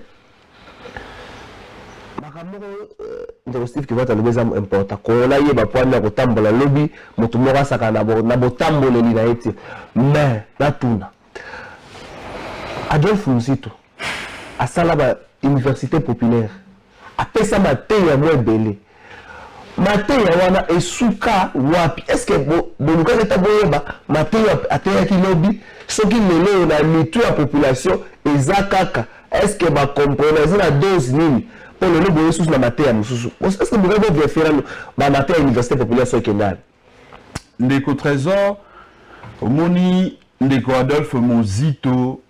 makambo moko euh, ndeko steve kivata alobi eza importa kongo nayeba mpo ani ya kotambola lobi moto moko asaka na botamboleli na ye te mais natuna adolphe muzito asala ba université populaire apesa mateya mwa ebele Mateya wana esuka wapi? Est-ce que bolukaki ata boyeba mateya ateyaki lobi? Soki lelo oyo na mitu ya population eza kaka, est-ce que ba comprendre eza na dose nini? Po lelo boye susu na mateya mosusu. Est-ce que bokoki ko verifier nanu ba mateya ya université populaire soki ekenda wapi? Ndeko Tresor, omoni ndeko Adolphe Muzito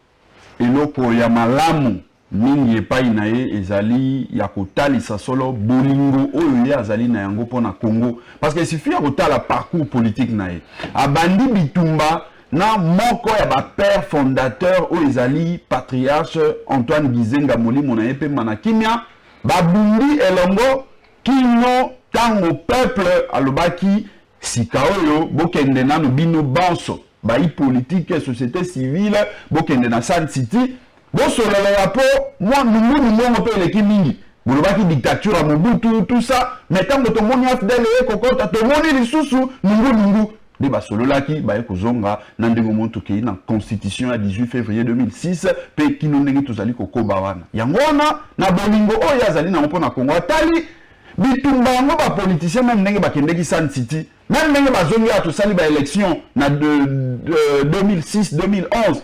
Eloko ya malamu mingi epai na ye ezali ya kotalisa solo bolingo oyo ye azali na yango mpo na Congo. Parce que il suffit ya kotala parcours politique na ye. Abandi bitumba na moko ya ba pères fondateurs oyo ezali patriarche Antoine Gizenga molimo na ye mpemba na kimia. Babundi elongo kino tango peuple alobaki Sikaoyo bokende nanu bino banso bayi politique societe civile bokende na Sun City bosolola ya po mwa nungu nungu yango pe eleki mingi bolobaki dictature ya Mobutu tout ça mais tango tomoni AFDL eye kokota tomoni lisusu nungu nungu nde basololaki baye kozonga na ndenge moni tokei na constitution ya 18 février 2006 mpe kino ndenge tozali kokoba wana yango wana na bolingo oyo ye azali nango mpo na kongo atali Bitumba yango ba politiciens meme ndenge bakendeki Sun City, meme ndenge bazongi awa tosali ba elections na de, de, 2006 2011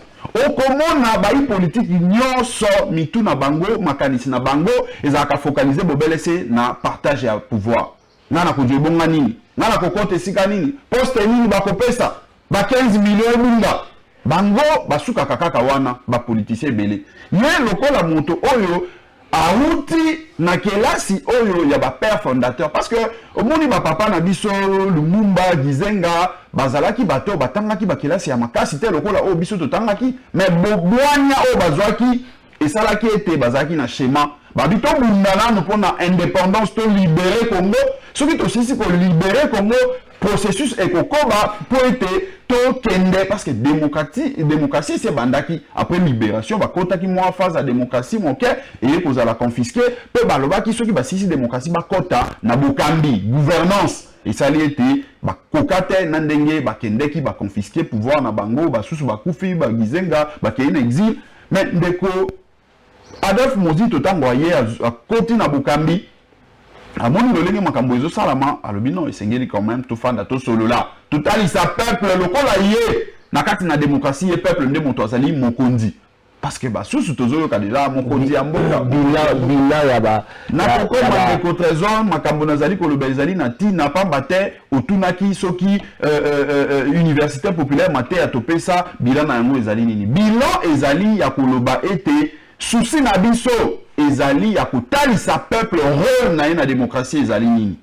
okomona bayi politiki nyonso mitu na bango makanisi na bango ezalaka focalise bobele se na partage ya pouvoir. Ngai nakozwa ebonga nini? Ngai nakokota esika nini? Poste nini bakopesa? Ba 15 millions ebunga. Bango basukaka kaka wana ba politiciens ebele. Ye lokola moto oyo awuti na kelasi oyo ya ba pères fondateurs parce que omoni ba papa na biso Lumumba, Gizenga bazalaki bato batangaki ba kelasi ya makasi te lokola oyo biso totangaki mais bobwanya oyo bazwaki esalaki ete bazalaki na shema babi tobunda nano mpo na indépendance to libere congo soki tosisi kolibere congo processus ekokoba mpo ete tokende parce que démocratie démocratie esi ebandaki après libération bakotaki mwa phase ya démocratie moke eye kozala confisque mpe balobaki soki basisi démocratie bakɔta na bokambi gouvernance esali ete bakoka te na ndenge bakendeki baconfisque pouvoir na bango basusu bakufi bagizenga bakei na exile Mais ndeko Adolphe Mozito ntango aye akoti na bokambi amoni lolenge makambo ezosalama alobi non esengeli quand même tofanda tosolola totalisa peuple lokola ye na kati na demokrasi ye peuple nde moto azali mokonzi parce que basusu tozoyoka deja mokonzi ya mboka bila ya ba na kokoma ndeko trésor makambo nazali koloba ezali na ntina mpamba te otunaki soki euh, euh, euh, euh, université populaire mateya topesa bilan na yango ezali nini bilan ezali ya koloba ete susi na biso ezali ya kotalisa peuple role na ye na demokratie ezali nini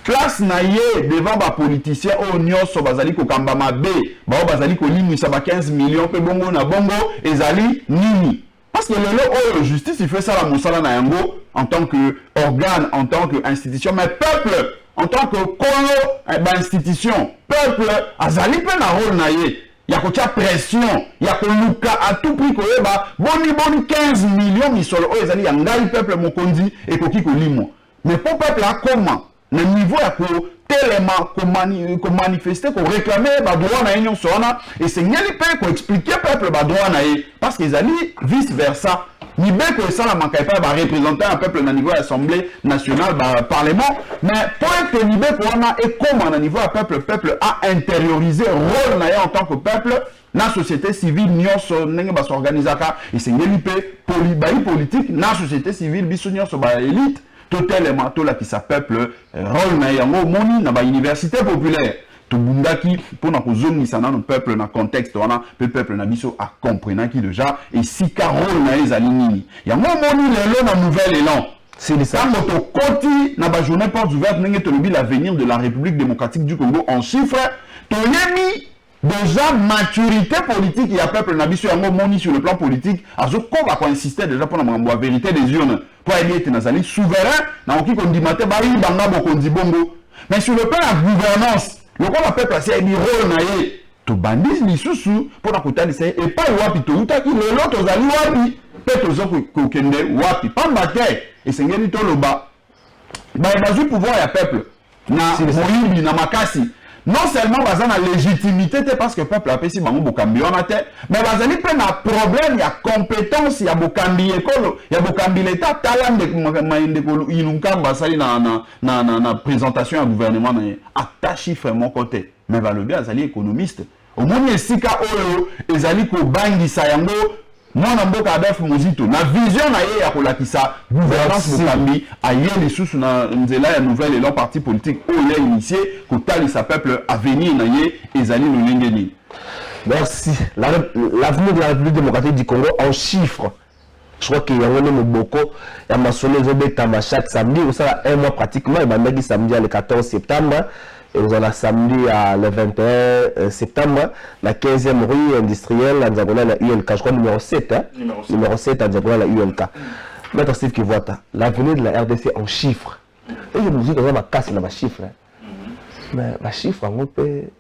place na ye devant bapoliticien oyo nyonso bazali kokamba mabe baoyo bazali kolimwisa ba 15 million mpe bongo na bongo ezali nini Parce que lelo oyo justice il faut esala mosala na yango en tant que organe, en tant que institution, mais peuple en tant que kolo eh, ba institution, peuple azali mpe na rôle na ye ya kotya pression ya koluka à tout prix koyeba boni boni 15 millions misolo oyo ezali ya ngai peuple mokonzi ekoki kolimwa mais mpo peuple akoma le niveau ya kotelema komanifeste koreklame badroit na ye nyonso wana esengeli mpe koexplike peuple badroit na ye parce que ezali vice versa mibeko esalamaka epai ya barepresentant ya peuple na niveau ya assemblée nationale baparlement mais mpo ete mibeko wana ekóma na niveau ya peuple peuple a intériorise rôle na ye en tant que peuple na société civile nyonso ndenge basorganisaka esengeli mpe bayi politike na société civile biso nyonso baelite Totelema tolakisa peuple role na ye yango omoni na ba universite populaire tobundaki mpo na kozongisa nano peuple na contexte wana mpe peuple na biso acomprenaki deja esika role na ye ezali nini yango omoni lelo na nouvel elan ntango tokoti na bajournée porte ouverte ndenge tolobi l'avenir de la république démocratique du congo en chiffre toyebi Dejà maturite politique ya peuple na biso yango omoni sur le plan politique azo koba ko insister dejà pona makambo ya verite des urnes po ayebi ete nazali souverain nakoki kondima te bayiba nga bokonzi bongo mais sur le plan ya gouvernance lokola peuple asi ayebi role na ye tobandi lisusu pona kotalisa ye epai wapi towutaki lelo tozali wapi mpe tozo kokende wapi pamba te esengeli toloba baye bazwi pouvoir ya peuple na moyibi na makasi non seulement baza na légitimité te parce que peuple apesi bango bokambi wana te mais bazali mpe na problème ya compétence ya bokambi ekolo ya bokambi leta tala ndekmaye ndeko ilunkamba asali na, na, na, na, na présentation ya gouvernement na ye ata chiffre moko te mais balobi azali économiste omoni esika oyo ezali kobangisa yango mwana mboka adolphe mozito na vision na ye ya kolakisa gouvernance mokambi aye lisusu na nzela ya nouvelle elan parti politique oyo ya initie kotalisa peuple avenir na ye ezali lolenge nini merci l'avenir la, la de la république démocratique du congo en chiffre Je crois que yango nde moboko ya masolo ezobetama chaque samedi ekosala un mois pratiquement ebandaki samedi ya le 14 septembre ekozala samedi ya le 21 septembre na 15e rue industrielle ya nzakola na ulk je crois numéro 7 hein? numéro 7, numéro 7 ya nzakola na ulk maître steve kivuata l'avenir de la rdc en chiffre eye moziki aza makasi na bachiffre mais bachiffre yango mpe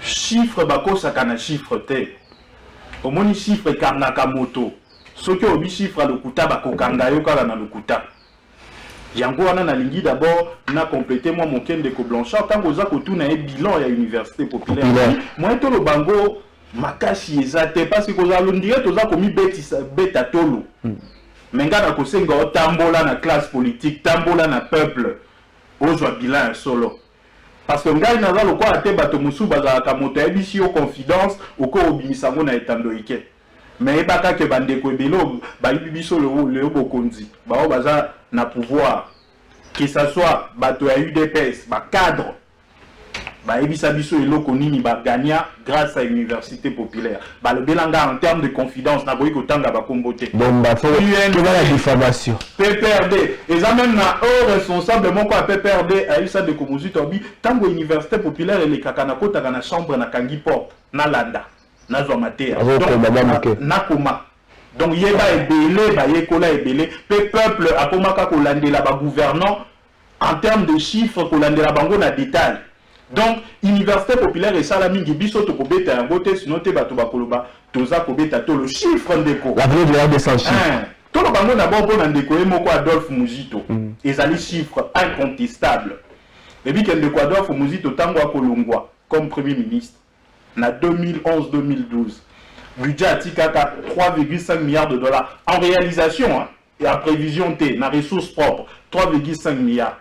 Chiffre bakosaka na chiffre te omoni chiffre ekangaka moto soki olobi chiffre ya lokuta bakokanga yo kaka na lokuta yango wana nalingi d'abord na complete mwa moke ndeko blanchard ntango oza kotuna ye bilan ya université populaire moyen toloba yango makasi eza te parce que kozala londire toza komibetisa beta tolo hmm. me ngai nakosenga otambola na classe politique tambola na peuple ozwa bilan ya solo Parce que ngai naza lokola te bato mosusu bazalaka moto ayebisi yo confidence okoki obimisa yango na etando eke mais yebaka ke bandeko ebele bayibi biso leo bokonzi baoyo baza na pouvoir que ça soit bato ya udps ba cadre bayebisa biso eloko nini ba gagna grace à université populaire balobela nga en terme de confidence nakoki kotanga bakombo te bombaokebana diffamation pprd eza meme na o responsable moko ya pprd ayebisa ndeko mozito abi ntango université populaire elekaka nakotaka na chambre nakangi porte nalanda nazwa mateya nakoma donc yeba ebele bayekola ebele mpe peuple akomaka kolandela bagouvernant en terme de chiffre kolandela bango na detail donc universite populaire esala mingi biso tokobeta yango te sinon te bato bakoloba toza kobeta tolo chiffre ndeko l'avenir de la RDC en chiffre hein. tolo bango na bon pona ndeko ye moko Adolphe Muzito mm. ezali chiffre incontestable ebi ke ndeko Adolphe Muzito tango akolongwa comme premier ministre na 2011 2012 budget atikaka 3,5 milliards de dollars en réalisation hein? ya prevision te na ressource propre 3,5 milliards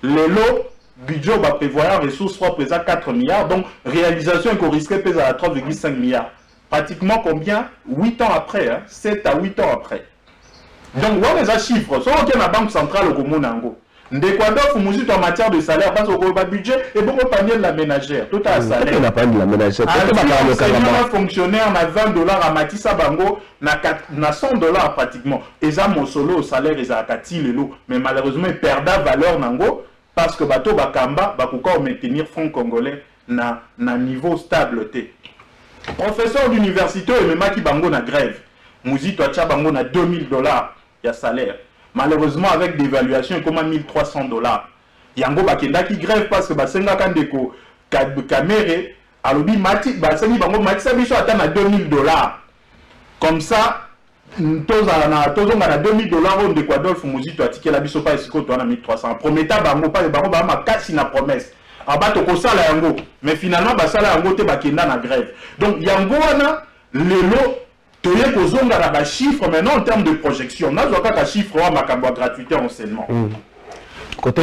lelo budget oyo ba prevoyant ressource propre eza 4 milliards donc realisation eko risque pe ezala 3,5 milliards pratiquement combien 8 ans après hein? 7 à 8 ans après donc wana eza chiffre soki oke na banque centrale okomona yango Ndeko Adolphe Muzito en matière de salaire bazo koloba budget ebongo panier de la menagère totala salaire azwi enseignant na fonctionnaire na 20 dollars amatisa bango na 100 dollars pratiquement eza mosolo oyo salaire ezalaka ti lelo mais malheureusement e perda valeur na ngo parce que bato oyo bakamba bakoka ko maintenir franc congolais na na niveau stable te professeur d'universite oyo ememaki bango na grève Muzito atia bango na 2000 dollars ya salaire malheureusement avec devaluation ekoma 1300 dollars yango bakendaki grève parce que basengaka ndeko kamere alobi mati basengi bango matisa biso ata na 2000 dollars comme ça tozala na tozonga na 2000 dollars oyo ndeko adolphe muzito atikela biso mpa esika oyo towana 1300 prometa bango mpa bango baa makasi na promesse aba tokosala yango mais finalement basala yango te bakenda na grève donc yango wana lelo Toye kozonga na ba chiffres maintenant en termes de projection. Nazwa kaka chiffre wana makambo ya gratuite ya enseignement. Bato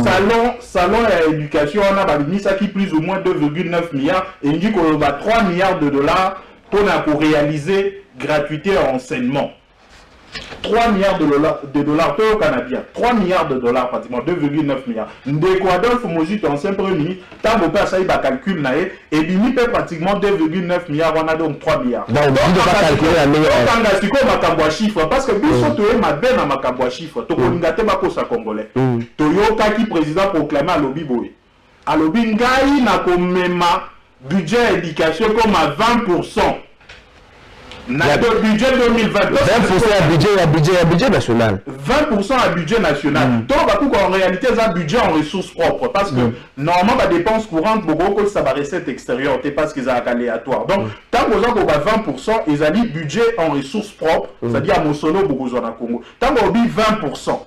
salon, salon ya education wana babimisaki plus ou moins 2,9 milliards, elingi koloba 3 milliards de dollars mpo na korealiser gratuite ya enseignement. 3 milliards de dollars, de dollars au Canadien, 3 milliards de dollars pratiquement, 2,9 milliards. Ndeko Adolphe Mozito, ancien premier ministre, Tango Père Saïba calcul nae, et bimi peut pratiquement 2,9 milliards, on a donc 3 milliards. Donc, on ne peut pas calculer la meilleure. On a siko makabwa chiffre, parce que biso mm. toye mabe na makabwa chiffre, tokolingate mm. bakosa congolais. Mm. Toyoka ki président proclamé à l'obiboye. Alobi ngai na ko mema budget ya education ekoma 20 pourcent na ya, budget 2020 20 pourcent ya budget ya budget ya budget national 20 pourcent ya budget national mm. to bakuku en réalité eza budget en ressources propres parce que mm. normalement ba dépenses courantes bokoki kotisa ba recettes extérieures te parce que ezalaka aléatoire donc mm. ntango mm. oza koba 20 pourcent ezali budget en ressources propres mm. c'est-à-dire ya mosolo bokozwa na congo ntango obi 20 pourcent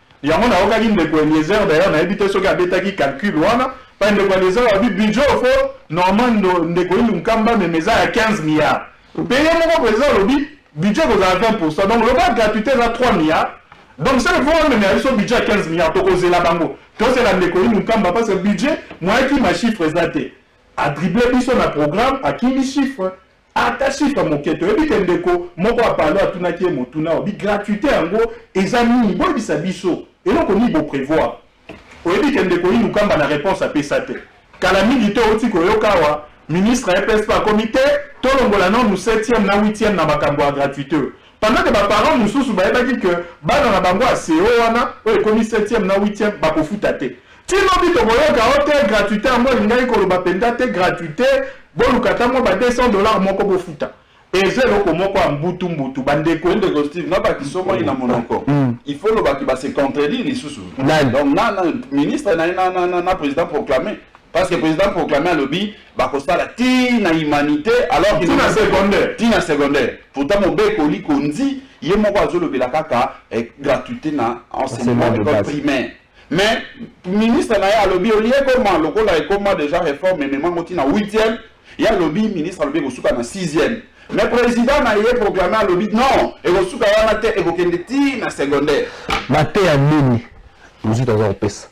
Yango nayokaki ndeko Eliezer d'ailleurs nayebi te soki abetaki calcul wana pa ndeko Eliezer alobi budget au fond normalement ndeko Ilunkamba meme eza ya 15 milliards mpe ye moko president alobi budget ekozala 20% donc loba gratuité eza 3 milliards donc seke mpo bamemela biso budget ya 15 milliards tokozela bango tozela ndeko Ilunkamba parce que budget moyen kima chiffre eza te adrible biso na programme akimi chiffre Ata chiffre moke te. Oyebi ke ndeko moko ya Palo atunaki ye motuna oyo, bi gratuite yango eza nini? Boyebisa biso eloko nini bo prevoir? Oyebi ke ndeko Inu Kamba na reponse apesa te. Kala mingi te owuti koyoka awa ministre ya EPSP akomi te, tolongola nanu septième na huitième na makambo ya gratuite oyo. Pendant que ba parents mususu bayebaki que bana na bango ya CO wana oyo ekomi septième na huitième bakofuta te. Ti lobi tokoyoka oh te gratuite yango elingaki koloba penza te gratuite boluka ata mwa ba 200 dollars moko bofuta. Eza eloko moko ya mbutu mbutu ba ndeko. Ndeko Steve nga ba kisomaki na monoko il faut oloba que ba se contredire lisusu donc na ministre na ye na president proclame parce que president proclame alobi bakosala ti na humanite alors ti na secondaire ti na secondaire pourtant mobeko likonzi ye moko azolobela kaka eh, gratuité na enseignement école primaire mais ministre na ye alobi olie ekoma lokola ekoma déjà réforme ememango ti na 8e ye alobi ministre alobi ekosuka na 6e mais président na ye proclame alobi non ekosuka wana te ekokende ti na secondaire mateya nini mosusu aza kopesa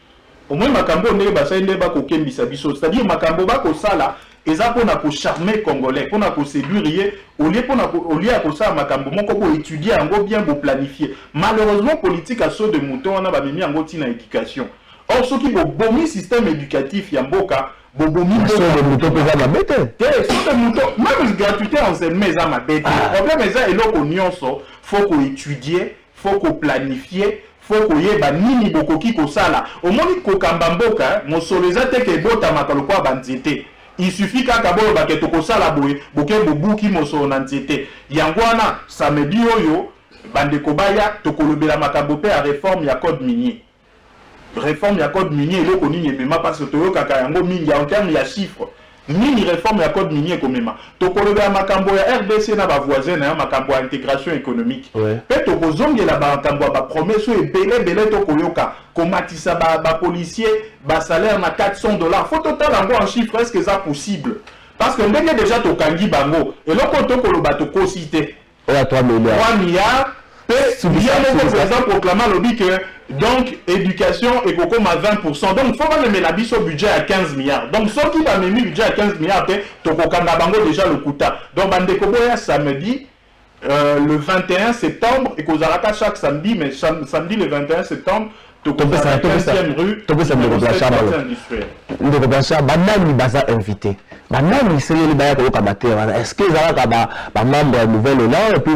Omoni makambo oyo ndenge basali nde ba kokembisa biso c'est à dire makambo ba kosala eza pona ko charmer congolais pona ko seduire ye au lieu pona au lieu ya kosala makambo moko bo etudier yango bien bo planifier malheureusement politique ya saut de mouton wana ba memi yango ti na education or soki bo bomi système educatif ya mboka bo bomi mboka saut de mouton peza mabe te te saut de mouton même gratuité enseignement eza mabe te problème eza eloko nionso faut ko etudier Faut ko planifier, faut koyeba nini bokoki kosala. Omoni kokamba mboka, mosolo eza te que ebotamaka lokola ba nzete. Il suffit kaka boloba que tokosala boye, boke bobuki mosolo na nzete. Yango wana, samedi oyo, bandeko baya, tokolobela makambo pe ya reforme ya code minier. Reforme ya code minier eloko nini emema parce que toyokaka yango mingi en terme ya chiffre nini reforme ya code minier ekomema tokoloba ya makambo ya rdc na ba voisin na ya makambo ya integration économique ouais. pe tokozongela makambo ya ba promesse oyo ebele ebele tokoyoka komatisa ba, ba policier ba salaire na 400 dollars faut totala yango en chiffre est ce que eza possible parce que ndenge deja tokangi bango eloko tokoloba tokosi te Oyo ya 3 milliards. 3 milliards pe ye moko president proclame alobi que donc education ekokoma 20 pourcent donc faut bamemela biso budget ya 15 milliards donc soki bamemi budget ya 15 milliards te tokokanga bango dejà lokuta donc bandeko boya samedi Euh, le 21 septembre ekozalaka chaque samedi mais samedi le 21 septembre topesa topesa topesa ndeko blanchard balo ndeko blanchard banani baza invité banani esengeli baya koyoka mateya wana est ce que ezalaka bamembre ya nouvelle elan epuis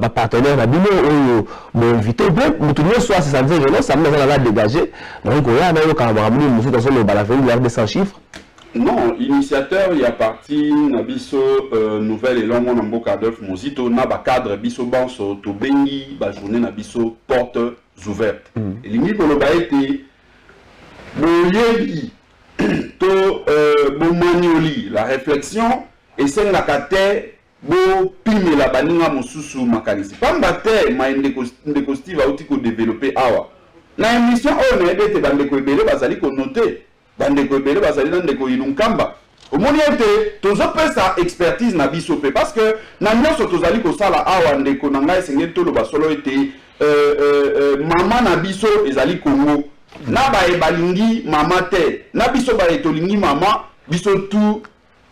bapartenaire na bino oyo boinvité mpe moto nyonso asesa nzengelo samedi aza naza dégage nakoki koya nayokaka makambo nini mosusu azoloba na veli ya 200 chiffre Non, initiateur ya parti na biso euh, Nouvel Elan mwana mboka Adolphe Muzito na ba cadre biso banso tobengi ba journée na biso portes ouvertes. Mm. Elingi koloba ete boyebi to euh, bomonioli la réflexion esengaka te bopimela baninga mosusu makanisi pamba te mai ndeko, ndeko steve auti kodevelope awa na émission oyo nayebi ete bandeko ebele bazali konote Bandeko ebele bazali na ndeko Ilunkamba. Omoni ete tozopesa expertise na biso mpe parce que na nyonso tozali kosala awa, ndeko na ngai, esengeli toloba solo ete euh, euh, euh, mama na biso ezali Congo na baye balingi mama te, na biso baye tolingi mama, biso tu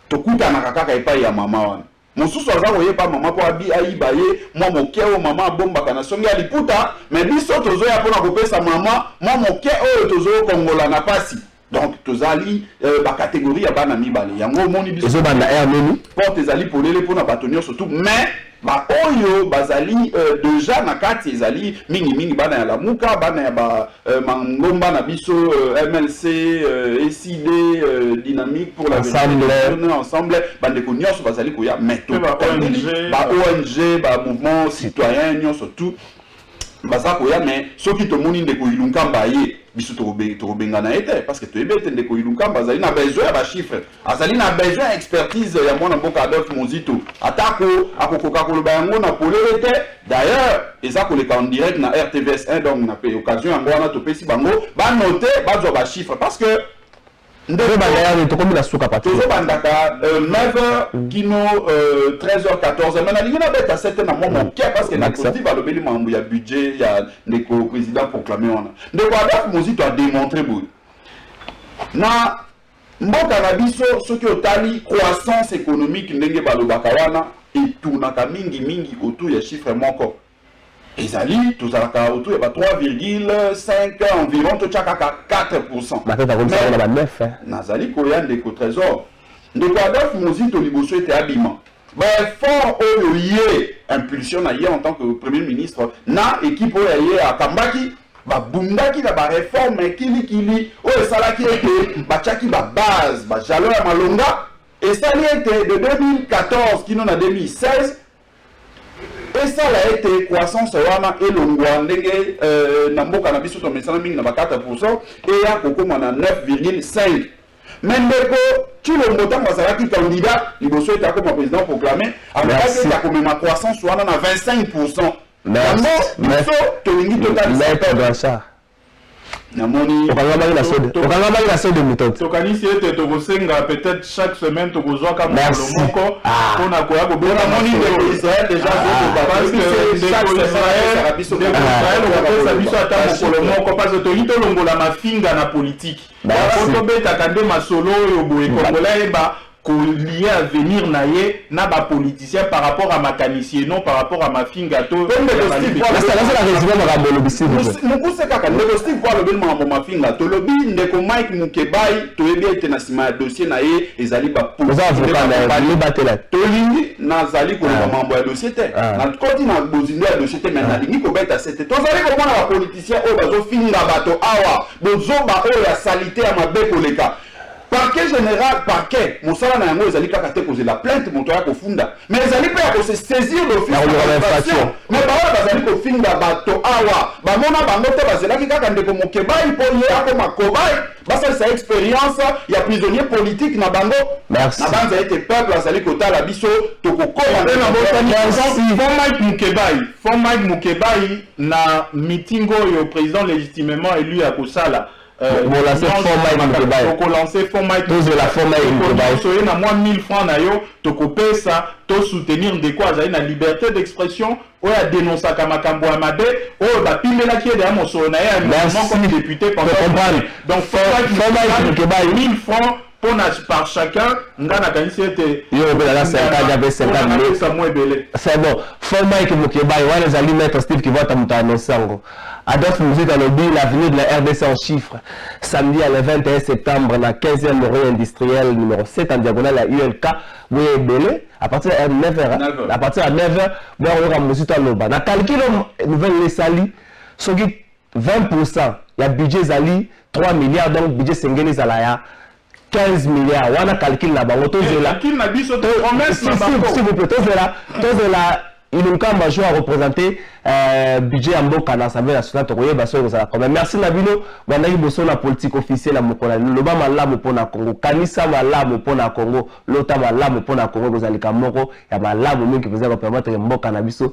tokutanaka kaka epai ya mama wana. Mosusu aza koyeba mama po abi ayiba ye mwa moke oyo mama abombaka na songe ya liputa mais biso tozoya pona kopesa mama mwa moke oyo tozokongola na pasi donc tozali euh, ba categorie ya bana mibale yango omoni biso ezobanda heure nini porte ezali polele pona bato nyonso tout mais baoyo bazali euh, deja na kati ezali mingimingi bana ya lamuka bana ya ba euh, mangomba na biso euh, mlc euh, ecd euh, dynamique pour la Ensemble. vérité, ensemble bandeko nyonso bazali koya mais Pe ba tokundeli ONG, ba ong ba mouvement citoyen nyonso tout baza koya mais soki tomoni ndeko ilunkamba aye biso tokobe- tokobengana ye te parce que toyebi ete ndeko ilunkamba azali na besoin ya bachiffre Azali na besoin ya expertise ya mwana mboka Adolphe Muzito, atako akokoka koloba yango na polele te. D'ailleurs, eza koleka en direct na RTVS 1 donc na occasion yango wana topesi bango ba note bazwa ba chiffres parce que tozobandaka euh, 9h mm. kino 13h euh, 14h me nalingi nabeta 7 na mwa moke mm. parce que nakotiv alobeli makambo ya budget ya ndeko président proclame wana ndeko adolphe mozito ademontre boye na Mboka na biso soki otali croissance economique ndenge balobaka wana e tournaka mingi mingi autour ya chiffre moko. Ezali tozalaka autour ya ba 3,5 environ to chakaka 4%. Ba tata comme ça na ba 9. Nazali koya ndeko Trésor. Ndeko Adolphe Muzito liboso ete abima. Ba efforts oyo ye, impulsion na ye en tant que Premier ministre na equipe oyo ya ye akambaki, babundaki na ba reformes ya kili kili oyo esalaki ete batyaki ba bases, ba jalons ya malonga, esali ete de 2014 kino na 2016, esala ete croissance wana elongwa ndenge euh, na mboka na biso tomesana mingi na ba 4% eya kokoma na 9,5. Mais ndeko Tshilombo tango azalaki candidat liboso ete akoma président proclamé, alobaki ete akomema croissance wana na 25%. Yango biso tolingi totalisa. namoni okangamaki na sode okangamaki na sode mutante tokanisi ete tokosenga peut-être chaque semaine tokozwaka mokolo moko ah. mpo na koya kobela moni ndeko israel deja zokobaisrael okopesa biso ata mokolo moko parce que tolingi tolongola mafinga na politiki Yango to betaka nde masolo oyo boye congolais ayeba ko lier avenir na ye na ba politiciens par rapport ya makanisi et non par rapport ya mafinga to mukuse kaka ndeko Steve po alobeli makambo mafinga tolobi ndeko Mike Mukebayi toyebi ete na nsima ya dossier na ye ezali ba tolingi nazali koloba makambo ya dossier te nakoti na bozindo ya dossier te mais nalingi kobeta sete tozali komona ba politiciens oyo bazofinga bato awa Bozoba oyo ya salite ya mabe koleka. Parquet general, parquet, mosala na yango ezali kaka te kozela plainte moto aya kofunda, mais ezali mpe ya ko se saisir d'office na ba infractions. Mais baoyo bazali kofinga bato awa, bamona bango te, bazelaki kaka ndeko Mukebayi mpo ye akoma cobaye, basalisa ye experience ya prisonnier politique na bango. Merci. Nabanza ete peuple azali kotala biso, tokokoma na. Mpe nabosani, Mike Mukebayi, for Mike Mukebayi. na meeting oyo president legitimement élu akosala euh, bolanse fond mike mukebaye tokolanse fond mike tozela fond mike mukebaye soye na mwa 1000 francs na yo tokopesa to soutenir ndeko azali na liberté d'expression oyo adenonsaka makambo ya mabe oyo bapimelaki ye deya mosolo na ye ya moko comme député pendant donc fond mike mukebaye 1000 francs Mpo na par chacun, nga nakanisi ete yo obelaka 50 ya pe 50 minutes ça moi ebele. C'est bon. Faux Mike Mukebayi wana ezali maître Steve Kivota moto a annonce yango. Adolphe Muzito alobi l'avenir de la RDC en chiffres. Samedi ya le 21 septembre na 15e rue industrielle numero 7 en diagonale ya ULK boya ebele à partir ya 9h à partir ya 9h boya koyoka Muzito aloba. Na calcul nouvelle esali soki 20 pour cent ya budget ezali 3 milliards donc budget esengeli ezala ya 15 milliards wana calcul na bango tozela tozela tozela ilunkamba jour arepresente euh, budget ya mboka na assemblée nationale tokoyeba soki ekozala kome merci na bino bandaki boso na politique officielle ya mokolo loba malamu mpo na congo kanisa malamu mpo na congo lota malamu mpo na congo ekozalika moko ya malamu mingi mpenza kopermetre mboka na biso